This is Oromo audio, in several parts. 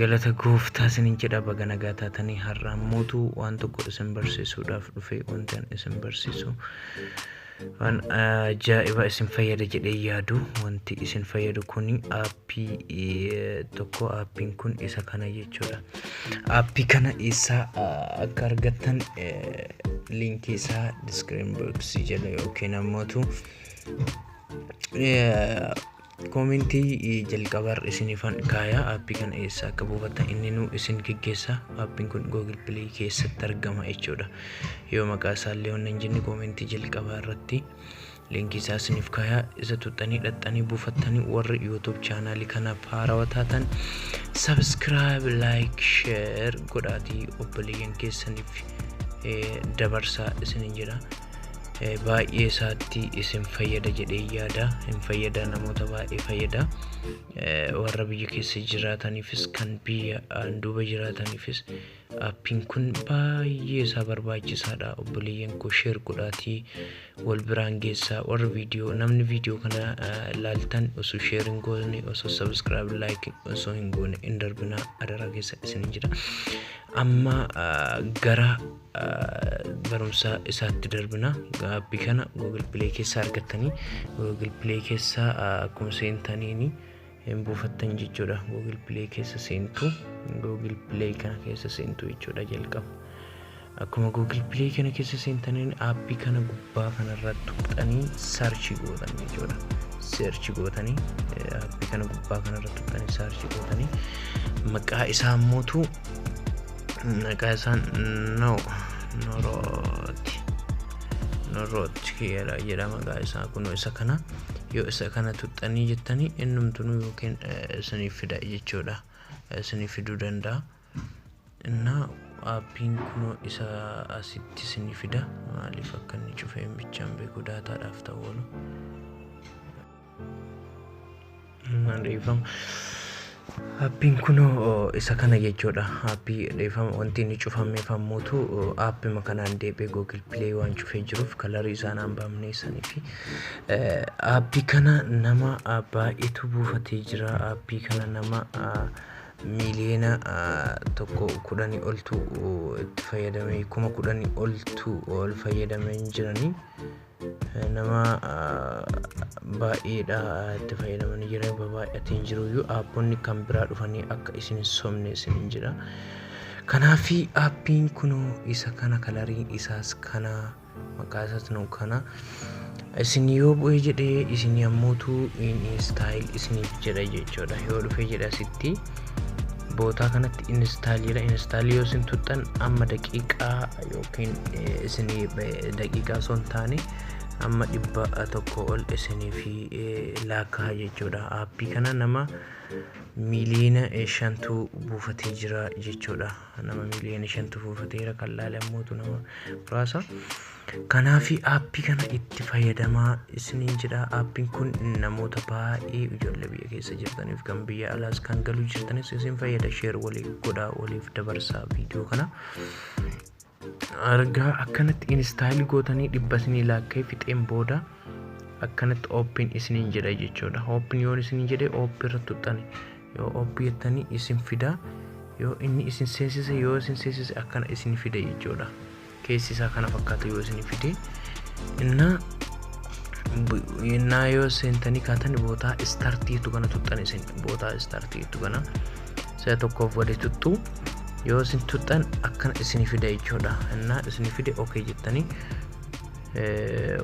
Galata gooftaa isinin jedha baga nagaa taatanii har'a ammootu waan tokko isin barsiisuudhaaf dhufe wanti an isin barsiisu waan ajaa'iba isin fayyada jedhee yaadu wanti isin fayyadu kun aappii eh, tokko aappiin kun isa kana jechuudha aappii kana eessaa ah, akka argattan eh, liinkii isaa diskiriin boksii jala yookiin ammootu eh, Koomentii jalqabaarra isinifan kaaya aappii kana eessa akka buufattan inninuu isin geggeessa aappiin kun google play keessatti argama jechuudha yoo maqaa isaallee wanna hin jenne koomentii jalqabaa irratti linkii isaa isinif kaaya isa tuxxanii dhaxxanii buufattanii warri youtube chaanaalii kanaaf haarawa taatan subscribe like share godhaatii obboleeyyan keessaniif eh, dabarsaa isinin jedha eh, baay'ee isaatti isin fayyada jedhee yaada hin fayyada namoota baay'ee fayyada Eh, warra biyya keessa jiraataniifis kan biyya aan duuba jiraataniifis appiin kun baay'ee isaa barbaachisaadha obboleeyyan koo sheer godhaatii wal biraan geessaa warra viidiyoo namni viidiyoo kana eh, laaltan osoo sheer hin goone osoo sabiskiraayib laayik osoo hin goone hin darbinaa adaraa keessa isin jira amma ah, gara barumsa isaatti darbina appi kana google play keessaa argattanii google play keessaa akkuma seentaniini hin buufattan jechuudha google play keessa seentu google play kana keessa seentu jechuudha jalqaba akkuma google play kana keessa seentaniin appi kana gubbaa kanarra tuqxanii sarchi gootan jechuudha search gootanii appi kana gubbaa kanarra tuqxanii sarchi gootanii maqaa isaa mootu Maqaa isaa no norooti norooti kiyyaadha jedha maqaa isaa kunoo isa kana yoo isa kana tuxxanii jettanii innumtunuu yookiin isiniif fida jechuudha isiniif fiduu danda'a innaa aappiin kunoo isa asitti isinii fida maaliif akka inni cufee bichaan beeku daataadhaaf ta'u oolu. Maan dhiifama. Appiin kunoo isa kana jechuudha. Appii dhiifama wanti inni cufamee fammuutu appima kanaan deebi'ee Google Play waan cufee jiruuf kalarii isaan aan baamnee sanii fi appii kana nama baay'eetu buufatee jira. Appii kana nama miiliyoona tokko kudhanii oltu itti fayyadamee kuma kudhanii oltu ol fayyadamee hin jiranii. nama baay'eedha itti fayyadamanii jiran babaay'atee hin jiru iyyuu aapponni kan biraa dhufanii akka isin hin sobne isin hin jira kanaafi aappiin kun isa kana kalariin isaas kana maqaa isaas nu kana isin yoo bu'ee jedhee isin yammuutu in istaayil isiniif jedha jechuudha yoo dhufee jedha sitti bootaa kanatti install jedha install yoo isin tuttan amma daqiiqaa yookiin isinii daqiiqaa osoo hin taane amma dhibba tokko ol isinii fi laakkaa jechuudha aappii kana nama miiliyoona shantu buufatee jira jechuudha nama miiliyoona shantu buufateera kan laale ammootu nama muraasa Kanaafi aappii kana itti fayyadamaa isiniin jedha. Aappiin kun namoota baay'ee ijoollee biyya keessa jirtaniif kan biyya alaas kan galuu jirtanis isin fayyada. Sheer walii godhaa waliif dabarsaa viidiyoo kana. Argaa akkanatti instaayilii gootanii dhibba isinii laakkee fixeen booda akkanatti ooppiin isiniin jedha jechuudha. Ooppiin yoon isiniin jedhe ooppii irratti tuqxani. Yoo ooppii jettanii isin fida. Yoo inni isin seensise yoo isin seensise akkana isin fida jechuudha. keessi isaa kana fakkaatu yoo isin fide innaa innaa yoo seentanii kaatan bootaa istartii jettu kana tuxxan isin bootaa istartii jettu kana si'a tokkoof gadi tuxxu yoo isin tuxxan akkana isin fida jechuudha innaa isin fide ok jettanii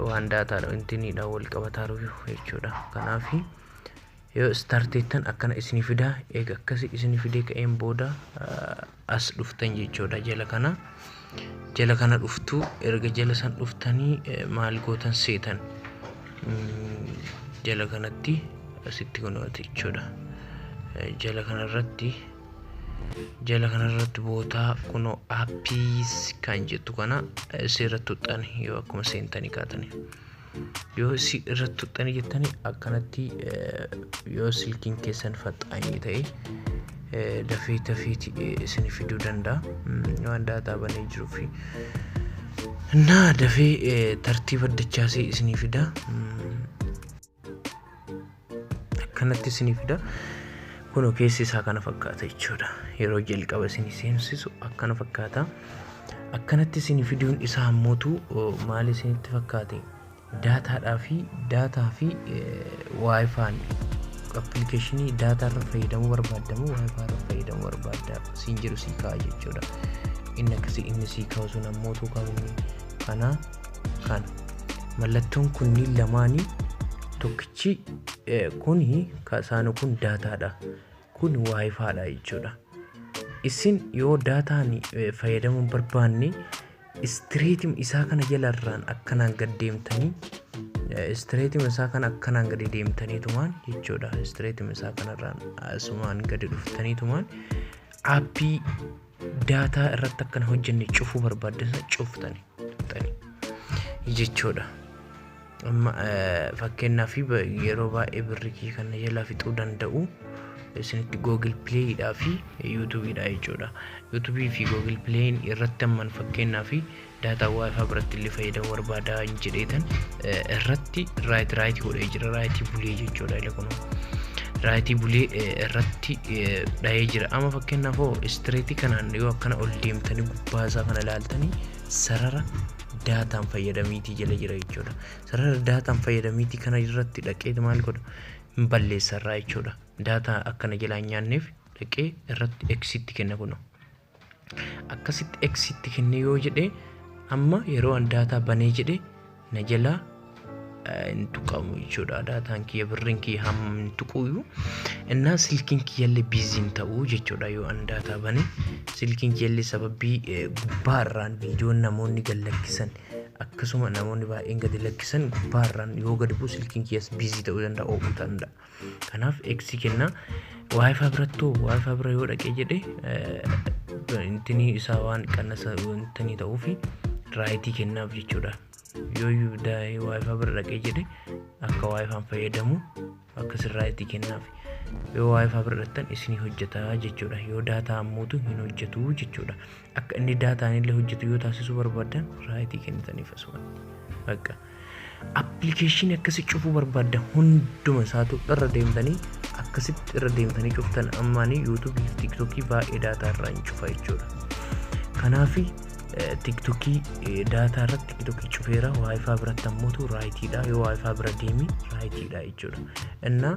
waan daataadha intiniidha wal qabataaru jechuudha kanaafi Yoo start jettan akkana isinii fida eega akkasi isinii fidee ka'een booda as dhuftan jechuudha jala kana jala kana dhuftu erga jala san dhuftanii maal gootan seetan jala kanatti asitti kunuunati jechuudha jala kanarratti jala kanarratti bootaa kunoo appiis kan jettu kana seera tuxxan yoo akkuma seentanii kaatanii. yoo si irratti tuqxanii jettanii akkanatti yoo silkiin keessan faxaanii ta'e dafee tafiiti isin fiduu danda'a waan daataa banee jiruu fi naa dafee tartiiba dachaasee isinii fida akkanatti isinii fida kunoo keessi isaa kana fakkaata jechuudha yeroo jalqaba isinii seensisu akkana fakkaata akkanatti isinii fiduun isaa ammootu maal isinitti fakkaate daataadhaa fi daataa fi waayifaan appilikeeshinii daataa irra fayyadamuu barbaaddamu waayifaa irra fayyadamuu barbaadda siin jedhu sii ka'a jechuudha inni akkasii inni sii kaa'u sun ammootu kaa'u kanaa kana mallattoon kunniin lamaanii tokkichi eh, kuni ka isaanu kun daataadha kun waayifaadha jechuudha isin yoo daataan eh, fayyadamuu hin barbaanne istireetim isaa kana jalarraan akkanaan gad deemtanii eh, istireetim isaa kana akkanaan gadi deemtaniitumaan jechuudha istireetim isaa kanarraan asumaan gadi dhuftaniitumaan aappii daataa irratti akkana hojjenne cufuu barbaaddan cuftani tuqxani jechuudha. Amma fakkeenyaaf yeroo baay'ee birrikii kana jalaa fixuu danda'u isinitti Google Play dhaa fi YouTube dhaa jechuudha. YouTube fi Google Play irratti amman fakkeenyaaf daataa wifi biratti illee fayyadamu barbaada hin jedheetan irratti raayiti raayiti godhee jira raayitii bulee jechuudha ila kun raayitii bulee irratti dhahee jira amma fakkeenyaaf hoo istireetii kanaan yoo akkana ol deemtanii gubbaa isaa kana ilaaltanii sarara daataan fayyadamiitii jala jira jechuudha sarara daataan fayyadamiitii kana irratti dhaqeeti maal godha hin balleessarraa jechuudha daataa akkana jalaa hin nyaanneef dhaqee irratti eksitti kenna kunoo akkasitti x itti kennee yoo jedhe amma yeroo an daataa banee jedhe na jalaa hin tuqamu jechuudha daataan kiyya birriin kiyya hamma hin tuquuyyuu innaa silkiin kiyyallee biiziin ta'uu jechuudha yoo an daataa bane silkiin kiyyallee sababii gubbaarraan viidiyoon namoonni gad lakkisan akkasuma namoonni baay'een gadi lakkisan gubbaarraan yoo gad bu'u silkiin kiyyas biizii ta'uu danda'a oo'uu danda'a. kanaaf x kenna wifi birattu wifi bira yoo dhaqee jedhe intinii isaa waan qannasa intinii ta'uufi raayitii kennaaf jechuudha yoo daa'ee wifi bira dhaqee jedhe akka wifiin fayyadamu akka sin raayitii kennaaf yoo wifi bira dhaqxan isinii hojjetaa jechuudha yoo daataa ammuutu hin hojjetu jechuudha akka inni daataan illee hojjetu yoo taasisuu barbaaddan raayitii kennitaniif asumatti. Bakka appilikeeshinii akkasii cufuu barbaaddan hunduma isaatu irra deemtanii akkasitti irra deemtanii cuftan ammaanii yuutuubii fi tiiktookii baay'ee daataa irraa hin cufa jechuudha. Kanaafi tiiktookii daataa irratti tiiktookii cufeera waayifaa biratti ammoo raayitiidha yoo waayifaa bira deemi raayitiidha jechuudha. Innaa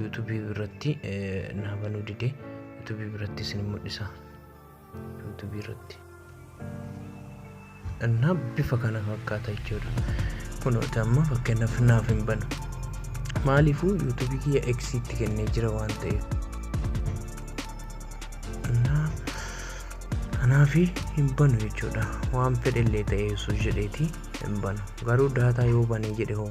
YouTube irratti naa banuu dide YouTube irratti isin mul'isa YouTube irratti na bifa kana fakkaata jechuudha kunooti amma fakkeenyaaf naaf hin banu maaliifuu YouTube kiyya X itti kennee jira waan ta'eef kanaafi hin banu jechuudha waan fedhellee ta'ee osoo jedheeti hin banu garuu daataa yoo banee jedhe hoo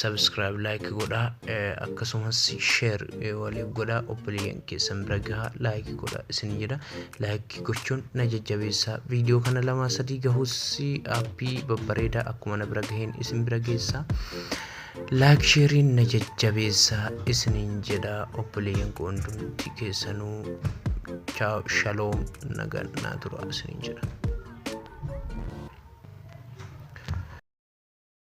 subscribe like godhaa eh, akkasumas share eh, waliif godhaa obboleeyyan keessan bira gahaa like godhaa isin jedha like gochuun na jajjabeessaa viidiyoo kana lamaa sadii gahuus appii babbareedaa akkuma na bira gaheen isin bira geessaa like sheeriin na jajjabeessaa isiniin jedha obboleeyyan koo hundumti keessanuu chaaw shaloom nagaan naa turaa isiniin jedha